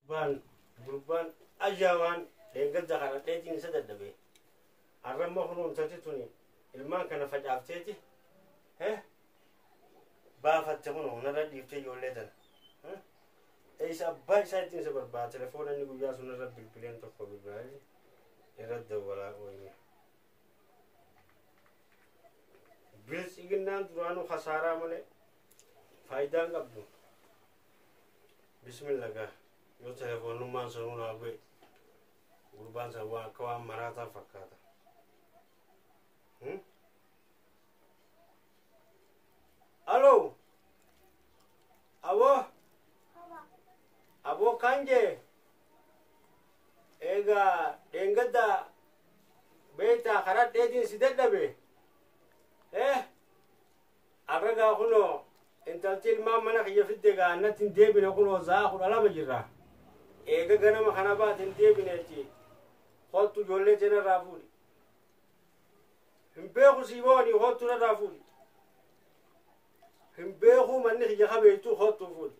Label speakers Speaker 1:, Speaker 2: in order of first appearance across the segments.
Speaker 1: Gurbaan gurbaan ajaamaan dheengadda kana dheetiin isa dadhabee arramma kunuuntati tuni ilmaan kana facaafteeti eh baafatte kun hunarra dhiifte ijoollee tana eh eessa abbaa isaa ittiin isa barbaada telefoona inni guyyaa sun irra bilbileen tokko bilbilaali irra dawwalaa ooyne biltsiginnaan duraanuu kasaaraa malee faayidaan qabdu bismilla gaa yoo telefoonnummaan sanuu naa bu'e gurbaan san waan akka waan maraataa fakkaata Hmm? aloo aboo aboo kaan jee eegaa dheengadda beektaa karaa dheetiin si dadhabe eh Arra gaa kunoo intalti ilmaan mana kiyya fidde gaa annatti hin deebine kunoo za'aa kudha lama jirra. Eega ganama kana baate hin deebineetti kottu ijoollee tee narraa fuudhi. Hin beeku sii booni kottu narraa fuudhi. Hin beeku manni kiyya kabeeytu kottu fuudhi.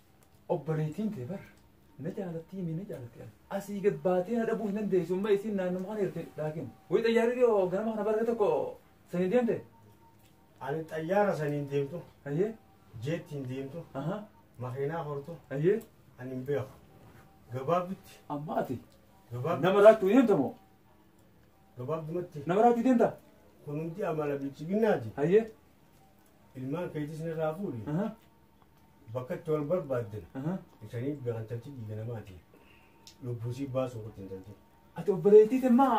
Speaker 1: obboleettiin
Speaker 2: tee bar na jaalatti himi na jaalatti ani asii gad baatee na dhabuu hin dandeessu amma isiin naannuma kana jirti laakiin wayi xayyaarri yoo ganama kana barree tokko sanii deemte Ani
Speaker 1: xayyaara saniin deemtu, ayyee
Speaker 2: jeettiin deemtu,
Speaker 1: aha makiinaa hortu, ayyee ani hin
Speaker 2: beeku.
Speaker 1: Gabaabdutti, amma ati
Speaker 2: gabaabdu, nama raachuu
Speaker 1: deemta moo gabaabdumatti nama raachuu deemta
Speaker 2: kun hundi amala
Speaker 1: bilchiginnaati. ayyee
Speaker 2: ilmaan
Speaker 1: keetis nirraa fuudhi Aha, bakka itti wal barbaaddan aha. isaniif gaantalchi dhiiga namaati lubbuu siif baasuu qotti intalti Ati obboleettii
Speaker 2: temmaa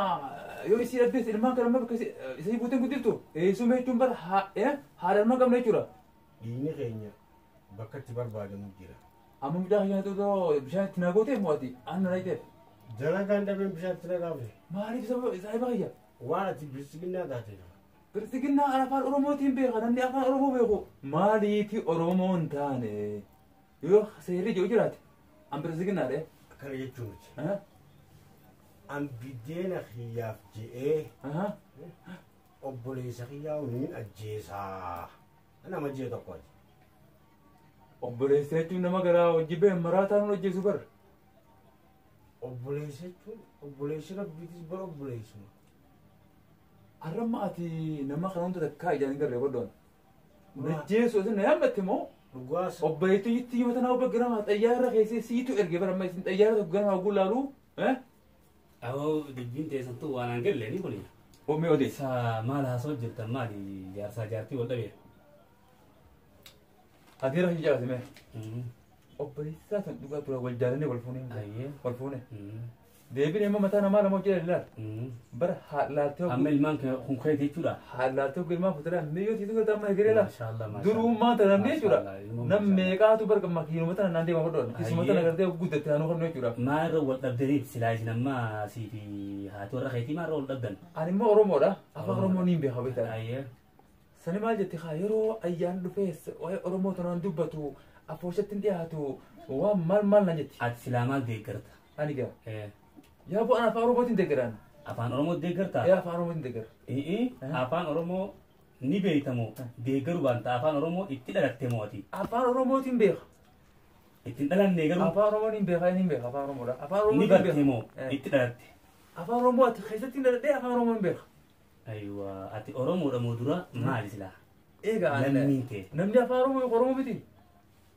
Speaker 2: yoo isii dhabdees ilmaan kana amma bakka isi- isii buuteen guddiftu eessuma jechuun bara haa- eh, haadha ilmaan qabna jechuudha. dhiigni keenya
Speaker 1: bakka itti barbaadamu jira Amma mucaa keenya
Speaker 2: xuuxoo bishaan itti naa gootee mo'ati aanna na hiteef. dalagaan dhabeen
Speaker 1: bishaan itti naqaame Maaliif sababa isaa
Speaker 2: ibaa kiyya? waan ati bilisiginnaa
Speaker 1: taateef Bilxiginnaa kan
Speaker 2: afaan Oromootiin beeka namni afaan Oromoo beeku maaliifi Oromoo hin taane yoo seerri jiru jiraate an bilxiginnaa ta'e. Akkana jechuun miti.
Speaker 1: Aha, An biddeena kiyyaaf je'ee aha. obboleessa kiyyaa waliin ajjeesaa. Nama jee tokkooti.
Speaker 2: Obboleessa jechuun nama garaa hojii ba'e maraataa nu hojjeessu bar. Obboleessa
Speaker 1: jechuun obboleessi rabbiitis bara obboleessuma.
Speaker 2: Arramma ati nama kana hunda takkaa ijaan hin garree godhoon. Najjeessu isin na yaammatte moo? Dhugaas. Obboleettii
Speaker 1: itti yoo
Speaker 2: tanaa obbo Giramaa xayyaara keessee siitu erge bara amma isin xayyaara tokko Giramaa oguu laalu.
Speaker 3: Awoo dubbiin teessattuu waan aan galle ni kuni. Omee odeessa. Isaa
Speaker 2: maal haasoo
Speaker 3: jirtan maali jaarsaa jaartii wal dhabeera.
Speaker 2: Ati irra hin jaalate mee? Obboleessaa san dhugaa tura wal jaalannee wal fuunee. Ayyee. Wal fuunee. Mm. Deebiin immoo mataa namaa lama hojii ilaala. Bara haadlaaltee Amma hoggu ilmaan kee kun
Speaker 3: keeti jechuudha. haadlaaltee hoggu ilmaan
Speaker 2: fuuteraa miyyoo siitu galta amma egeree laala. Maashaallah, maashaallah. Duruummaa
Speaker 3: tana namni jechuudha.
Speaker 2: Maashaallah, ilmoo Nam maashaallah. meeqaatu barga makiinuma tana naan deema hodhoon. Isuma tana Ayyee. gartee hoggu guddatte naannoo hodhoo jechuudha. Maa irra wal dhabdaniif
Speaker 3: silaa isin amma sii fi haati warra keetii maa irra wal dhabdan? Ani immoo Oromoodha.
Speaker 2: Afaan Oromoo niin beeka beektaa. Ayyee.
Speaker 3: Sani maal
Speaker 2: jette kaa yeroo ayyaan dhufees waa'ee Oromoo tanaan dubbatu afooshatti hin dhiyaatu waan maal maal na jetti. Ati silaa maal deeggarta?
Speaker 3: Ani gaa.
Speaker 2: Eh, Yaa bu'aan afaan Oromootiin deeggaraan. Afaan Oromoo deeggartaa?
Speaker 3: Yaa afaan Oromootiin
Speaker 2: deeggara. Ee, afaan
Speaker 3: Oromoo ni beektamoo deeggaru baanta afaan Oromoo itti dhalatte moo ati? Afaan Oromootiin
Speaker 2: beeka. Ittiin
Speaker 3: dhalanne garuu Afaan Oromoon hin beeka hin
Speaker 2: beeka afaan Oromoodha. Afaan ni Oromootiin barte moo beeka.
Speaker 3: itti dhalatte? Afaan Oromoo ati
Speaker 2: keessatti dhaladhee afaan Oromoo hin beeka. Aywa,
Speaker 3: ati Oromoodha moo dura maali silaa? Eegaa Lammiin
Speaker 2: kee. namni
Speaker 3: afaan Oromoo Oromoo
Speaker 2: miti.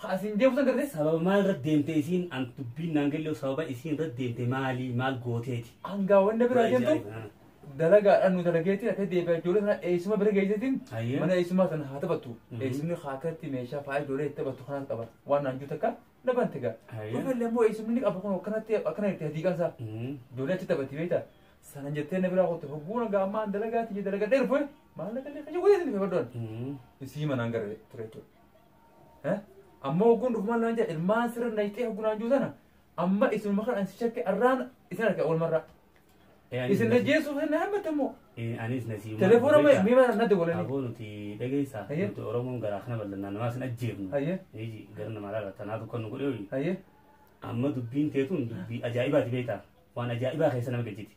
Speaker 2: Ka asiin deemu san gartee sababa maal irra deemte
Speaker 3: isiin an dubbiin naan gallee sababa isiin irra deemte maali maal gooteeti. Hangaa wanna biraa Waan
Speaker 2: jentu ajaa'iba, ah. dalagaadhaan nu dalageetiin akka deebi'a ijoollee sana eessuma bira geesseetiin Ayyee. mana eessumaa sana haa taphattu. Mhm. Eessumni haa akkatti meeshaa faaya ijoollee itti taphattu kanas qaba. Waan naan jiru takka na bante gaa. Ayyee. Dhufa illee immoo eessumni ni qaba kun akkanatti akkana itti hadiiqan isaa. Mm. Ijoollee achi taphatti beektaa. Sana jettee na biraa qotte hogguu nagaa ammaa an dalagaatti jee dalagadhee dhufe maallaqa illee kaja godhee dhufe baddoon. Mm. Isii manaan gara ture jechuudha. Eh? Amma hogguun dhufumaan naan jedha ilmaan sirra nayxee hoggu naan jiru sana amma isinuma kan ansi shakke arraan isin arge walmarraa. Isin najjeesuu kan na hammate immoo. Anis na siima.
Speaker 3: Telefoona mee mee mana
Speaker 2: nadde walanii. Aboo nuti dhageessaa.
Speaker 3: Hayyee. Nuti Oromoon garaa kana bal'annaa namaa sin ajjeefnu. Hayyee. Iji gara namaa laala tanaa tokko nu godhee hoyi. Hayyee. Amma dubbiin teetuun dubbii ajaa'ibaati beektaa. Waan ajaa'ibaa keessa nama gajjiti.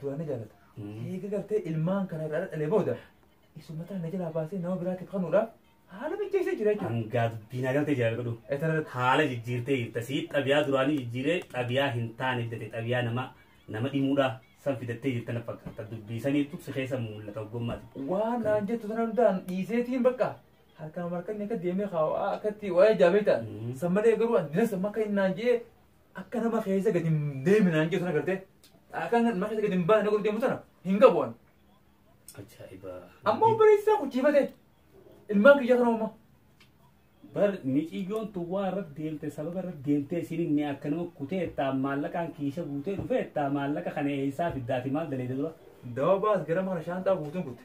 Speaker 2: duraan na jaalata. Eega gartee ilmaan kana irraa dhalee booda isummataan na jalaa baasee nama biraatiif kanuudhaaf haala mijeessee jira jechuudha. Hangaa dubbii na galtee jira
Speaker 3: godhu. Etarratti Haala jijjiirtee jirta. Sii xabiyaa duraanii jijjiiree xabiyaa hin taane fidate xabiyaa nama nama dhimuudhaa san fidattee jirta na fakkaata. Dubbii saniitu si keessa mul'ata ogummaati. waan naan jettu
Speaker 2: sana hundaan dhiiseetiin bakka harkaan markanni akka deemee kaawaa akkatti waa'ee jaabeetaan. Mm. San malee garuu ani dinasa makka hin naan jee Akka nama keessa gadi hin deemne naan jedhu sana gartee. Akka nama keessa gadi hin baane godhu deemu sana hin qabu ani. Ajaa'iba.
Speaker 3: Amma obboleessaa
Speaker 2: kuchiifate. Ilmaan kiyyaa kana uumaa. Bar
Speaker 3: miciyyoon tun waa irratti deemte sababa irratti deemtee isin inni akka nama kutee ittaa maallaqaan kiisha guutee dhufee ittaa maallaqa kana eessaa fiddaati maal daleede dura. Dawaa baas gara
Speaker 2: mana shaanxaa guutuun kutte.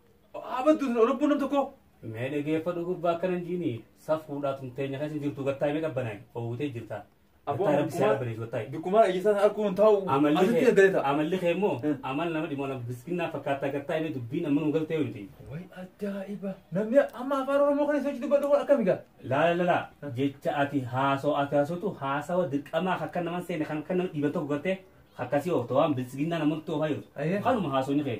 Speaker 2: Haa baddu isin lubbuun nam tokkoo. Mee dhageeffadhu
Speaker 3: gurbaa akkana hin jiini. Safuudhaa tumteenya keessa hin jirtu gattaa mee qabbanaa oowwitee jirta. Abboo Gattaa rabbi seera bareesu
Speaker 2: gattaa. bikkumaa ijjisaa sana arguun hin taa'u. Amalli Asitti kee eeggale ta'a. amalli kee immoo Hmm.
Speaker 3: amal nama dhimma nama biskinnaa fakkaataa gattaa mee dubbiin amma nu galtee miti. Way ajaa'iba.
Speaker 2: Namni amma afaan Oromoo kana isa dubbadhu kun akkami gaa? Laala lala
Speaker 3: jecha ati haasoo ati haasootu haasawa dirqamaa akka nama seene kan akka nama dhiiban tokko gattee akkasii oofta waan biskinnaa namoota oofaa jirtu. Ayyee. Kanuma haasoo ni kee.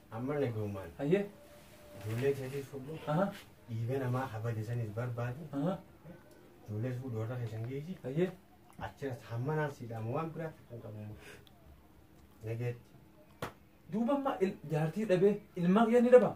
Speaker 2: Amma nagaumaan
Speaker 1: Hayyee.
Speaker 2: ijoollee
Speaker 1: keetis fudhu Aha. dhiiga namaa habade sanis barbaadi Aha. ijoollees fudhu warra keessan geessi Hayyee.
Speaker 2: achiras hamma
Speaker 1: naan siidhaama waan biraaf kan qabamu nageetti
Speaker 2: Duuba amma il- jaartii dhabee ilmaa kiyya ni dhabaa?